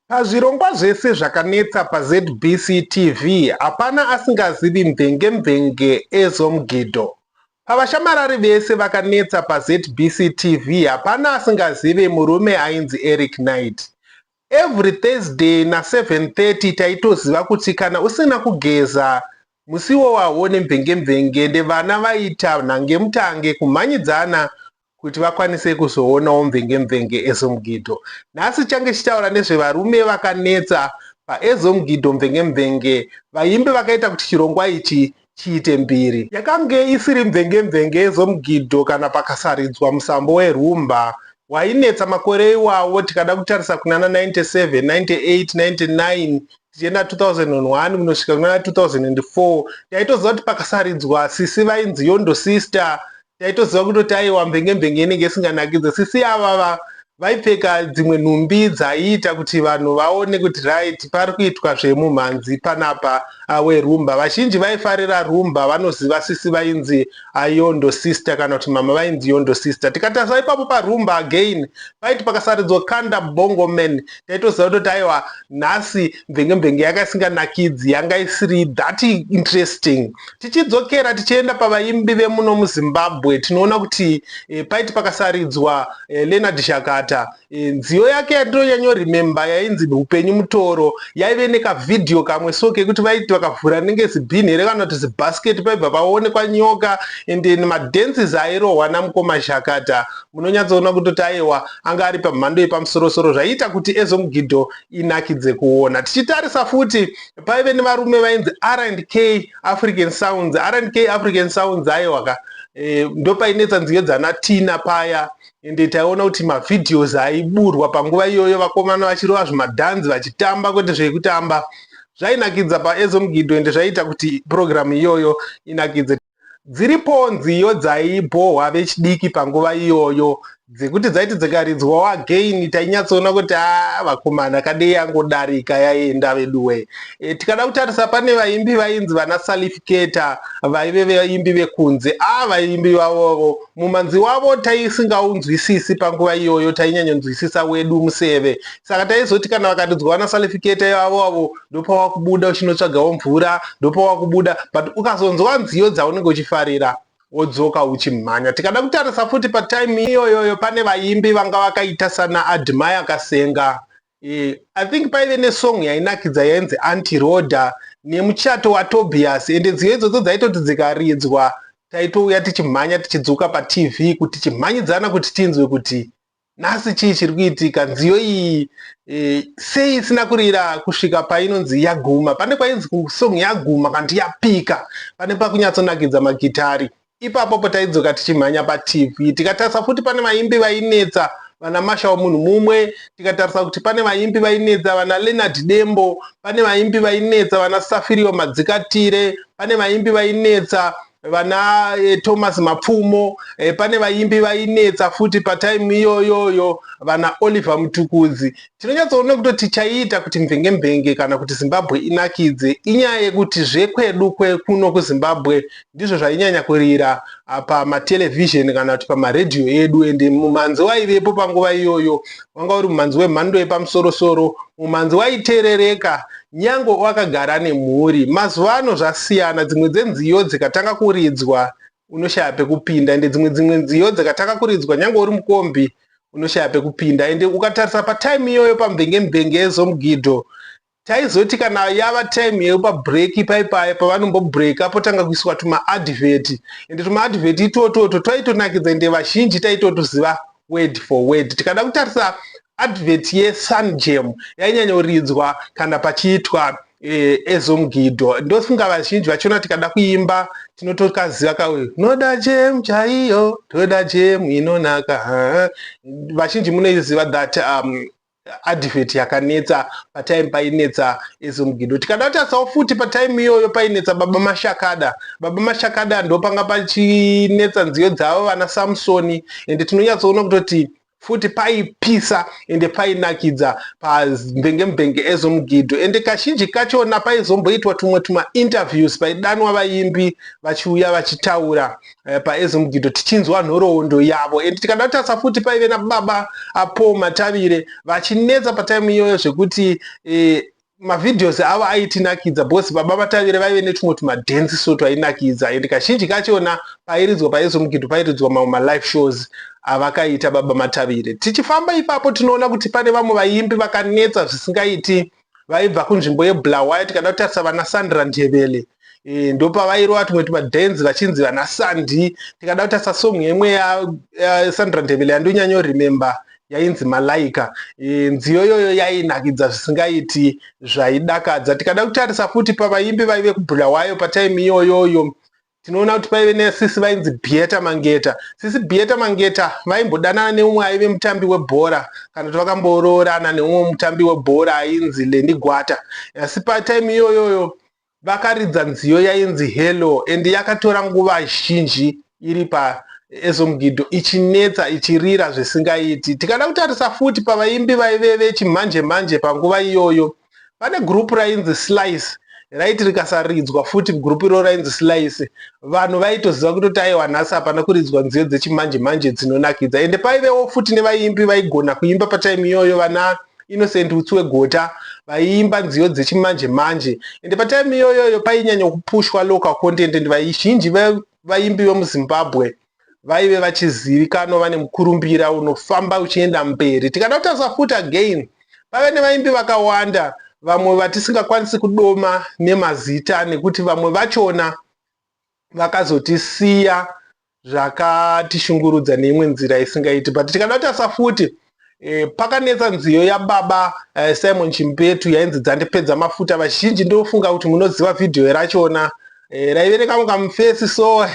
Pazvirongwa zvese zvakanetsa paZBC TV hapana asingazivi Mvenge Mvenge Ezom Gido. Pavashamarari vese vakanetsa paZBC TV hapana asingazive murume ainzi Eric Knight. Every Thursday na 7:30 taitoziva kuti kana usina kugeza musiwo wawo nemvenge mvenge ndevana vaita nhangemutange kumhanyidzana kuti vakwanise kuzoonawo mvenge-mvenge Ezomgidho. Nhasi tichange tichitaura nezvevarume vakanetsa paEzomgidho mvenge-mvenge vaimbi vakaita kuti chirongwa ichi chiite mbiri. Yakange isiri mvenge-mvenge Ezomgidho kana pakasaridzwa musambo werhumba wainetsa makore iwawo tikada kutarisa kunana 97, 98, 99 tichienda 2001 kunosvika kunana 2004 taitoziva kuti pakasaridzwa Sisi vainzi Yondo Sister taitoziva kutoti aiwa mbenge mbenge inenge isinganakidze sisi avava vaipfeka dzimwe nhumbi dzaiita kuti vanhu vaone kuti right pari kuitwa zvemumhanzi panapa awe rumba vazhinji vaifarira rumba vanoziva sisi vainzi ayondo sister kana kuti mama vainzi yondo sister tikatasa ipapo parumba again paiti pakasaridzwa kanda bongo man taitoziva kutoti aiwa nhasi mvenge mvenge yaka isinganakidzi yanga isiri that interesting Tichidzokera tichienda pavaimbi vemuno muZimbabwe tinoona kuti e, paiti pakasaridzwa e, Leonard Shakata e, nziyo yake yatinonyanyorememba yainzi upenyu mutoro yaive nekavhidhiyo kamwe so kekuti vaiti vakavhura nenge zibhini here kana kuti zibhasiketi paibva paonekwa nyoka and then madenses airohwa namukoma Shakata munonyatsoona kutoti ayewa anga ari pamhando yepamusorosoro zvaiita kuti ezomugidho inakidze kuona tichitarisa futi paive nevarume vainzi rnk african sounds rnk african sounds aiwaka e, eh, ndopainetsa nziyo dzana tina paya ende taiona kuti mavideos aiburwa panguva iyoyo vakomana vachirova zvimadhanzi vachitamba kwete zvekutamba zvainakidza paezomgido ende zvaiita kuti purogiramu iyoyo inakidze Dziripowo nziyo dzaibhohwa vechidiki panguva iyoyo dzekuti dzaiti dzikaridzwawo again tainyatsoona kuti a ah, vakomana kadei yangodarika yaenda veduwe. E, tikada kutarisa pane vaimbi vainzi vana salifiketa vaive vaimbi vekunze a ah, vaimbi vavovo mumanzi wavo taisingaunzwisisi panguva iyoyo tainyanyonzwisisa wedu museve saka taizoti kana vakaridzwa vana salifiketa ivavo avo ndopawakubuda uchinotsvagawo mvura ndopawakubuda but ukazonzwa nziyo dzaunenge uchifarira wodzoka uchimhanya tikada kutarisa futi patime iyoyoyo pane vaimbi vanga vakaita sana admire kasenga e, i think paive nesong yainakidza yainzi anti roda nemuchato watobias ende nziyo idzodzo dzaitoti dzikaridzwa taitouya tichimhanya tichidzoka patv kuti chimhanyidzana kuti tinzwe kuti Nhasi chii chiri kuitika? Nziyo iyi e, sei isina kurira kusvika painonzi yaguma? Pane kwainzi kusong yaguma kanti yapika, pane pakunyatsonakidza magitari. Ipapo po taidzoka tichimhanya paTV tikatarisa futi pane vaimbi vainetsa vana masha munhu mumwe tikatarisa kuti pane vaimbi vainetsa vana leonard dembo pane vaimbi vainetsa vana safirio madzikatire pane vaimbi vainetsa vana eh, Thomas Mapfumo eh, pane vaimbi vainetsa futi patime iyoyoyo vana Oliver Mutukudzi. Tinonyatsoona kutoti chaiita kuti mvenge mvenge kana kuti Zimbabwe inakidze inyaya yekuti zvekwedu kwekuno kuZimbabwe ndizvo zvainyanya kurira ah, pamatelevision kana kuti pamaredhiyo edu ende mumanzi waivepo panguva iyoyo wanga uri mumhanzi wemhando yepamusorosoro, mumhanzi waiterereka nyangwe wakagara nemhuri. Mazuva ano zvasiyana, dzimwe dzenziyo dzikatanga kuridzwa unoshaya pekupinda ende dzimwe dzimwe nziyo dzikatanga kuridzwa nyangwe uri mukombi unoshaya pekupinda ende ukatarisa patime iyoyo pamvenge mvenge ezomugidho Taizoti kana yava time yekupa break ipai paya pavanombo breaker potanga kuiswa tuma advert ende tuma advert itototwo twaitonakidza ende vazhinji taitotuziva word for word. Tikada kutarisa advert ye Sunjam yainyanyoridzwa kana pachiitwa eh, ezomgidho ndofunga vazhinji vachiona tikada kuimba tinotokaziva kauyu noda jam chaiyo toda jam inonaka vazhinji munoiziva that um, advert yakanetsa patime painetsa ezomgido tikada tarisawo futi patime iyoyo painetsa baba mashakada baba mashakada ndopanga pachinetsa nziyo dzavo vana samsoni ende tinonyatsoona kutoti futi paipisa ende painakidza pamvenge mvenge ezomugidho ende kazhinji kachona paizomboitwa tumwe tumainterviews paidanwa vaimbi vachiuya vachitaura eh, paezimgido tichinzwa nhoroondo yavo and tikada kutarisa futi paive nababa apo matavire vachinetsa pataimu iyoyo zvekuti eh, mavideos avo aitinakidza bcause baba vatavire vaive netumwe tumadance so twainakidza and kazhinji kachona pairidzwa paizomukidhu pairidzwa mamwe malive shows avakaita baba matavire tichifamba ipapo tinoona kuti pane vamwe vaimbi vakanetsa zvisingaiti vaibva kunzvimbo yebulawayo tikada kutarisa vana sandra ndebele e, ndopavairova tumwe tumadance vachinzi vana sandi tikada kutarisa song yemwe yasandra ndebele yandonyanyo remember yainzi malaika e, nziyo iyoyo yainakidza zvisingaiti zvaidakadza tikada kutarisa futi pavaimbi vaive kubulawayo pataimi iyoyoyo Tinoona kuti paive nesisi vainzi Bieta Mangeta. Sisi Bieta Mangeta vaimbodanana neumwe aive mutambi webhora kana kuti vakamboroorana neumwe mutambi webhora ainzi Lendi Gwata. Asi patime iyoyoyo vakaridza nziyo yainzi Hello and yakatora nguva zhinji iri pa Ezomgido ichinetsa ichirira zvisingaiti. Tikada kutarisa futi pavaimbi vaive vechimhanje mhanje panguva iyoyo pane group rainzi slice raiti rikasaridzwa futi group iro rainzi slice vanhu vaitoziva kutoti aiwa nhasi hapana kuridzwa nziyo dzechimanje manje dzinonakidza ende paivewo futi nevaimbi vaigona kuimba patime iyoyo vana innocent utsi wegota vaiimba nziyo dzechimanje manje ende patime iyoyoyo painyanya kupushwa local content and vazhinji vaimbi vemuzimbabwe vaive vachizivikanwa vane mukurumbira unofamba uchienda mberi tikada kutarisa futi again vave nevaimbi vakawanda vamwe vatisingakwanisi kudoma nemazita nekuti vamwe vachona vakazotisiya zvakatishungurudza neimwe nzira isingaiti but tikada kutarisa futi e, pakanetsa nziyo yababa e, simon chimpetu yainzi dzandipedza mafuta vazhinji ndofunga kuti munoziva vhidhiyo rachona e, raive nekamwe kamufesi so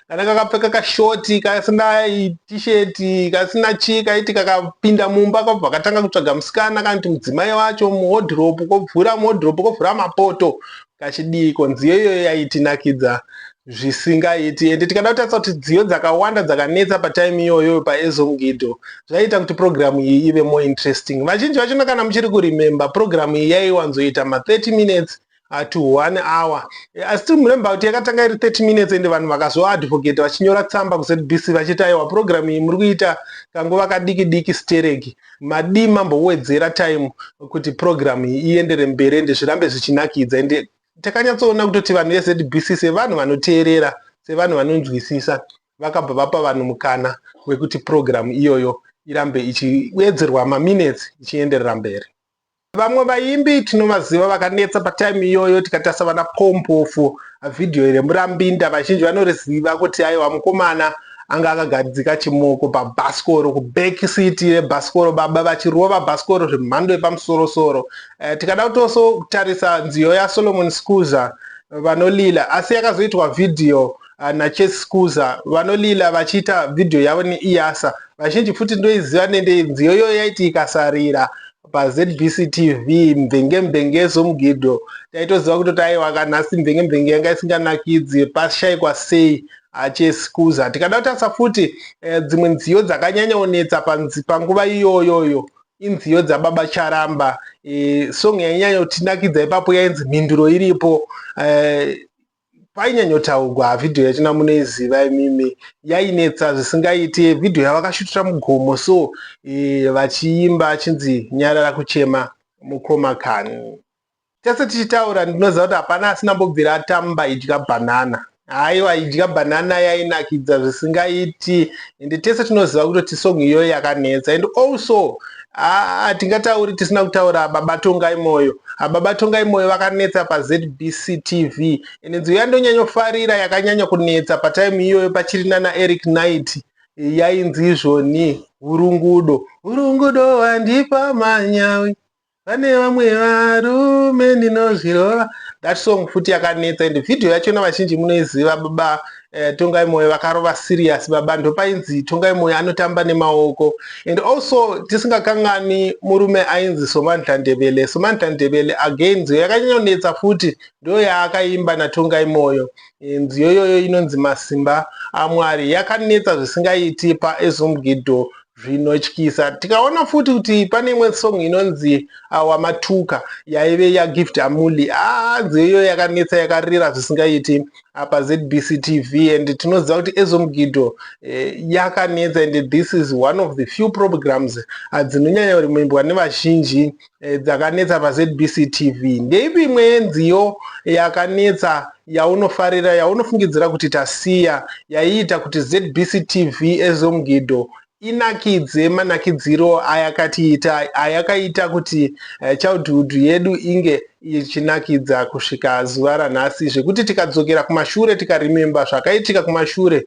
kana kakapfeka kashoti kasina tisheti kasina chii kaiti kakapinda mumba kabva katanga kutsvaga musikana kana kuti mudzimai wacho muhodhiropu kobvura muhodhiropu kobvura mapoto kachidiiko nziyo iyoyo yaitinakidza zvisingaiti ende tikada kutarisa kuti dziyo dzakawanda dzakanetsa patime iyoyo paezongido zvaiita kuti purogiramu iyi ive more interesting vazhinji vachona kana muchiri kuremember purogiramu iyi yaiwanzoita ma30 minutes uh, to one hour eh, asi tiri muremba kuti yakatanga iri 30 minutes ende vanhu vakazoadvocate vachinyora tsamba kuzbc vachiti aiwa purogiramu iyi muri kuita kanguva kadiki diki stereki madii mambowedzera time kuti program iyi iendere mberi ende zvirambe zvichinakidza ende takanyatsoona kutoti vanhu vezbc sevanhu vanoteerera sevanhu vanonzwisisa vakabva vapa vanhu mukana wekuti program iyoyo irambe ichiwedzerwa maminutes ichienderera mberi Vamwe vaimbi tinovaziva vakanetsa patime iyoyo tikatarisa vana Paul Mpofu, video iri Murambinda vazhinji vanoriziva kuti aiwa mukomana anga akagadzika chimoko pabhasikoro kuback seat rebhasikoro baba vachirova bhasikoro zvemhando yepamusorosoro. Eh, tikada kutoso kutarisa nziyo yaSolomon Scuza vanolila asi yakazoitwa video uh, nachase scuza vanolila vachiita vhidhiyo yavo neiyasa vazhinji futi ndoiziva nende nziyo iyoyo yaiti ikasarira pazbc tv mvenge mvenge zomugidho taitoziva kutoti aiwa kanhasi mvenge mvenge yanga isinganakidzi pashaikwa sei achesikuza tikada kutarisa futi eh, dzimwe nziyo dzakanyanyaonetsa panguva iyoyoyo inziyo dzababa charamba eh, song yainyanya kutinakidza ipapo yainzi mhinduro iripo eh, painyanyotaugwa vhidhiyo yatina munoiziva imimi yainetsa zvisingaiti vhidhiyo yavakashutira mugomo so e, vachiimba achinzi nyarara kuchema mukoma kani tese tichitaura ndinoziva kuti hapana asina mbobvira atamba idya bhanana haiwa idya bhanana yainakidza zvisingaiti ende tese tinoziva kutoti song iyoyo yakanetsa and also hatingatauri tisina kutaura baba tongai moyo baba tongai moyo vakanetsa pazbc tv ende nziyo yandonyanyofarira yakanyanya kunetsa pataimu iyoyo pachiri nana eric night yainzi izvoni hurungudo hurungudo handipa manyawi pane vamwe varume ndinozvirova that song futi yakanetsa ende vhidhiyo yachona vazhinji munoiziva baba Eh, tongai moyo vakarova serious baba ndopainzi tongai moyo anotamba nemaoko and also tisingakanganwi murume ainzi somandla ndebele somandla ndebele again nziyo yakanyanyonetsa futi ndo yaakaimba natongai moyo eh, nziyo iyoyo inonzi masimba amwari yakanetsa zvisingaiti paezomgido zvinotyisa tikaona futi kuti pane imwe song inonzi awa matuka yaive yagift amuli hanzi ah, iyo yakanetsa yakarira zvisingaiti apa zbc tv and tinoziva kuti ezomugido eh, yakanetsa and this is one of the few programs ah, dzinonyanya kurimuimbwa nevazhinji eh, dzakanetsa pazbc tv ndeipi imwe yenziyo yakanetsa yaunofarira yaunofungidzira kuti tasiya yaiita kuti zbc tv ezomgido inakidze manakidziro ayakatiita ayakaita kuti eh, childhood yedu inge ichinakidza kusvika zuva ranhasi zvekuti tikadzokera kumashure tikarememba zvakaitika kumashure